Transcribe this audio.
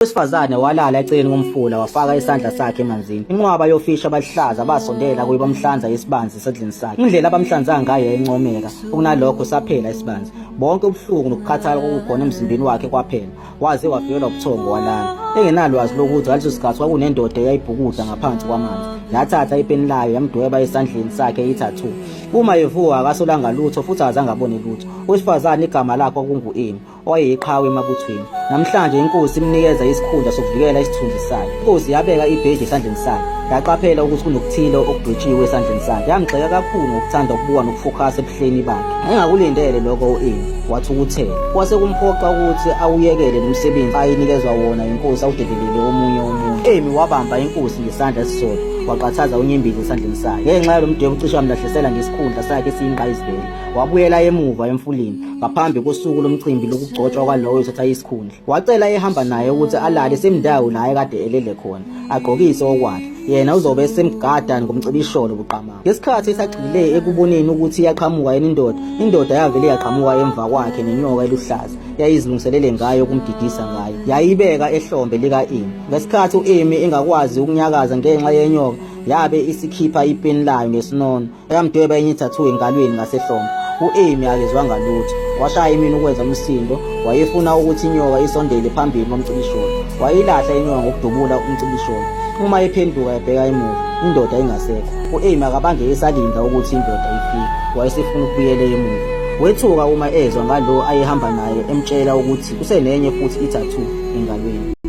Owesifazane walala eceleni komfula wafaka isandla sakhe emanzini. Inqwaba yofishi abaluhlaza basondela kuye bamhlanza isibanzi esedlini sakhe. Indlela abamhlanza ngayo yayincomeka, okunalokho saphela isibanzi. Bonke ubuhlungu nokukhathala kwakukhona emzimbeni wakhe kwaphela. Waze wafikelwa ubuthongo walala. Engenalwazi lokuthi ngaleso sikhathi kwakunendoda eyayibhukuda ngaphansi kwamanzi. Yathatha ipeni layo yamdweba esandleni sakhe ithathu. Uma evuka akasolanga lutho futhi azange abone lutho. Owesifazane igama lakhe kwakungu-Emi. owayeyiqhawe emabuthweni. Namhlanje inkosi imnikeza isikhundla sokuvikela isithunzi sayo. Inkosi yabeka ibheji esandleni sayo. Yaqaphela ukuthi kunokuthile okudwetshiwe esandleni sakhe. Yamgxeka kakhulu ngokuthanda ukubuka nokufokhasa ebuhleni bakhe. Engakulindele lokho u-Eli wathukuthela. Kwase kumphoqa ukuthi awuyekele nomsebenzi ayinikezwa wona inkosi awudedelele omunye umuntu. Emi wabamba inkosi ngesandla esisodwa waqathaza unyembezi esandleni sayo. Ngenxa yalo mdwebo ucishe wamlahlisela ngesikhundla sakhe esiyingqayizivele. Wabuyela emuva emfuleni. ngaphambi kosuku lomcimbi lokugcotshwa kwalowo ethatha isikhundla wacela ehamba naye ukuthi alale semndawo la ekade elele khona agqokise okwakhe yena uzobe esemgada ngomcibisholo buqamama ngesikhathi esagxile ekuboneni ukuthi iyaqhamuka yena indoda indoda yavele yaqhamuka emva kwakhe nenyoka eluhlaza yayizilungiselele ngayo ukumdidisa ngayo yayibeka ehlombe lika-emi ngesikhathi u-emi engakwazi ukunyakaza ngenxa yenyoka yabe isikhipha ipeni layo ngesinono Yamdweba enye ithathu engalweni ngasehlombe. U-Amy akezwanga lutho. Washaya imini ukwenza umsindo, wayefuna ukuthi inyoka isondele phambili komcibisholo. Wayilahla inyoka ngokudubula umcibisholo. Uma ephenduka ebheka emuva, indoda ingasekho. U-Amy akabange esalinda ukuthi indoda ifike. Wayesefuna ukubuyela emuva. Wethuka uma ezwa ngalo ayehamba naye emtshela ukuthi usenenye futhi ithathu engalweni.